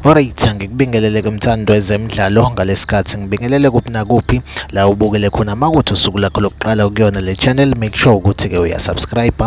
Alright, ngikubingelele ke mthando ezemidlalo ngalesikhathi ngibingelele kuphi nakuphi la ubukele khona makuthi usuku lakho lokuqala ukuyona le channel make sure ukuthi ke uyasubscribe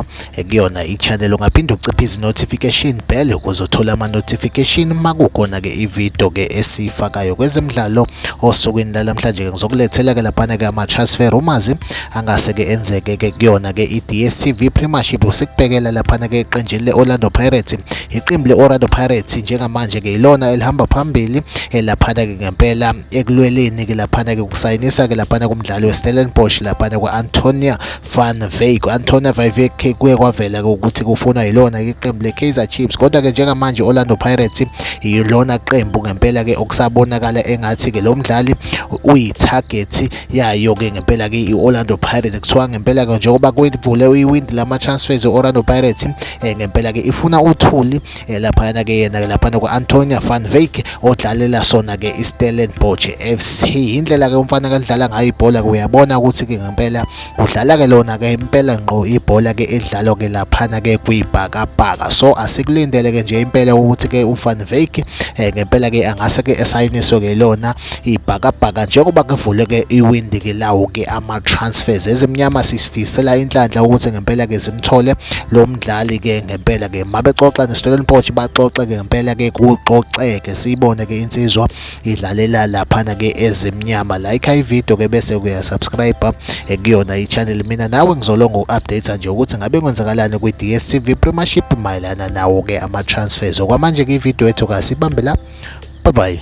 kuyona i-channel ungaphinde uciphe izi-notification bell ukuze uthole ama-notification uma kukhona-ke ividiyo-ke esiyifakayo kwezemidlalo osukwini lalamhlanje-ke ngizokulethela-ke laphana-ke ama-transfer rumazi angase-ke enzeke-ke kuyona-ke i-dstv premiership sikubhekela laphana-ke eqenjini le-orlando pirates iqembu le-orlando pirates njengamanje-ke yilona elihamba phambili elaphana-ke ngempela ekulweleni-ke laphana-ke ukusayinisa-ke laphana kumdlali we-stellenbosch laphana kwa-antonia Van Wyk Antonio Van Wyk kuye kwavela ukuthi kufunwa yilona iqembu leKaizer Chiefs kodwa ke njengamanje Orlando Pirates yilona qembu ngempela ke okusabonakala engathi ke lo mdlali uyitarget yayo ke ngempela ke iOrlando Pirates kuthiwa ngempela ke njengoba kwivule iwindi lama transfers eOrlando Pirates eh, ngempela ke ifuna uthuli eh, laphayana ke yena ke laphana ku-antonia van vake odlalela sona ke istellenbosch fc indlela ke umfana kalidlala ngayo ibhola ke uyabona ukuthi ke ngempela udlala ke lona ke impela ngqo ibhola ke edlalwa ke laphana ke kwibhakabhaka so asikulindele ke nje impela ukuthi ke uvan vake eh, ngempela ke angase ke esayiniswe ke lona ibhakabhaka njengoba kuvuleke iwindi ke lawo ke ama transfers ezimnyama sisifisela inhlanhla ukuthi ngempela ke simthole lo mdlali ke ngempela ke mabexoxa neStoleni Potch baxoxe ke ngempela ke kuxoxeke siyibone ke insizwa idlalela laphana ke ezimnyama like i video ke bese kuya subscribe eh, kuyona i channel mina nawe ngizolonga uku-update nje ukuthi ngabe kwenzakalani kwi-DStv Premiership mayelana nawo ke ama transfers okwamanje ke ivideo yethu kasibambela bye bye